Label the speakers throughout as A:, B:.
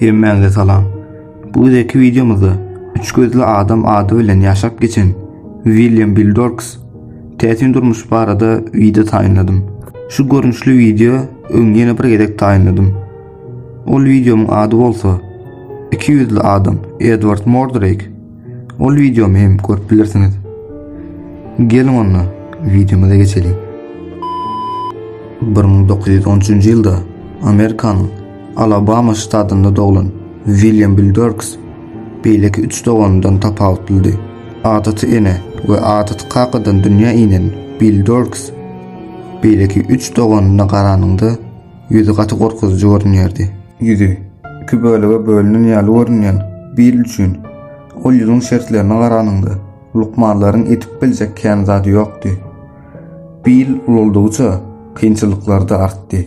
A: Hemmäňize salam. Bu gezeki wideomyzda üç gözli adam ady bilen ýaşap geçen William Bildorks täsin durmuş barada wideo taýynladym. Şu görnüşli wideo öň ýene bir gezek taýynladym. Ol wideomyň ady bolsa Iki ýüzli adam Edward Mordrake Ol videomy hem görüp bilirsiniz. Geliň onda videomyza geçelim. 1913 ýylda Amerikanyň Alabama ştatynda doglan William Bildorks beýleki üç doganyndan tapawutlyldy. Adaty ene we adaty kakadan dünýä inen Bildorks beýleki üç doganyna garanyňda Ýüzi gaty gorkuzyjy görünýärdi. Ýüzi, iki bölege bölünen ýaly görünýän Bill üçin, ol ýüzüň şertlerine garanyňda, lukmanlaryň edip biljek kän zady ýokdy. Bill ulaldygyça, kynçylyklar-da artdy.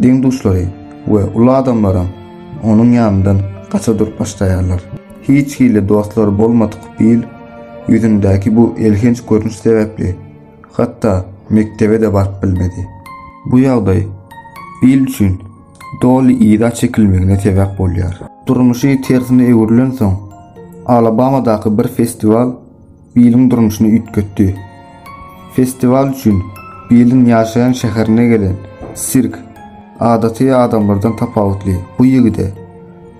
A: Deň-duşlary we uly adamlaram onuň ýanyndan gaça durup başlaýarlar. Hiç hili dostlary bolmadyk Bill ýüzündäki bu elhenç görnüş sebäpli, Hatda mekdebe-de baryp bilmedi. Bu ýagdaý il üçin doly yza çekilmegine sebäp bolýar. Durmuşy tersine öwrülensoň, Alabamadaky bir festiwal Billiň durmuşyny üýtgetdi. Festiwal üçin Billiň ýaşaýan şäherine gelen sirk adaty adamlardan tapawutly bu ýigide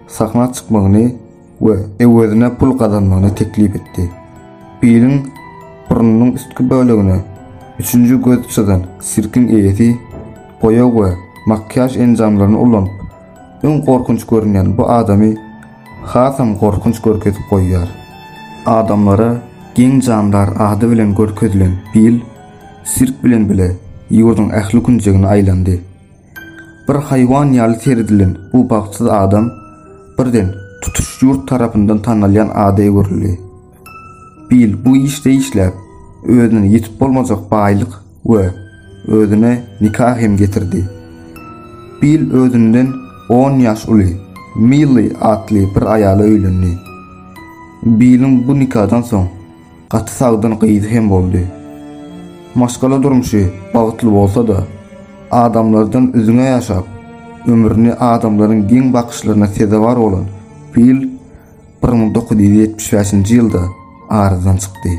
A: sahna çykmagyny we öwezine pul gazanmagyny teklip etdi. Billiň burnunyň üstki bölegine üçünji göz çyzan sirkiň eýesi boýag we makiýaž enjamlaryny ulanyp, öň gorkunç görünýän bu adamy hasam gorkunç görkezip goýýar. Adamlara geň jandar ady bilen görkezilen Bill sirk bilen bile ýurduň ähli künjegine aýlandy. Bir haýwan ýaly seredilen bu bagtsyz adam birden tutuş ýurt tarapyndan tanalýan ada öwrüldi. Bill bu işde işläp, özüne ýetip bolmajak baýlyk we özüne nika hem getirdi. Bill özünden on ýaş uly Milli atly bir aýala öýlendi. Billiň bu nikadan soň Gaty sagdyn gyzy hem boldy. Maşgala durmuşy bagtly bolsa-da, adamlardan üzňe ýaşap, ömrüni adamlaryň geň bakyşlaryna sezewar bolan Bill bir müň dokuz ýüz ýetmiş bäşinji ýylda aradan çykdy.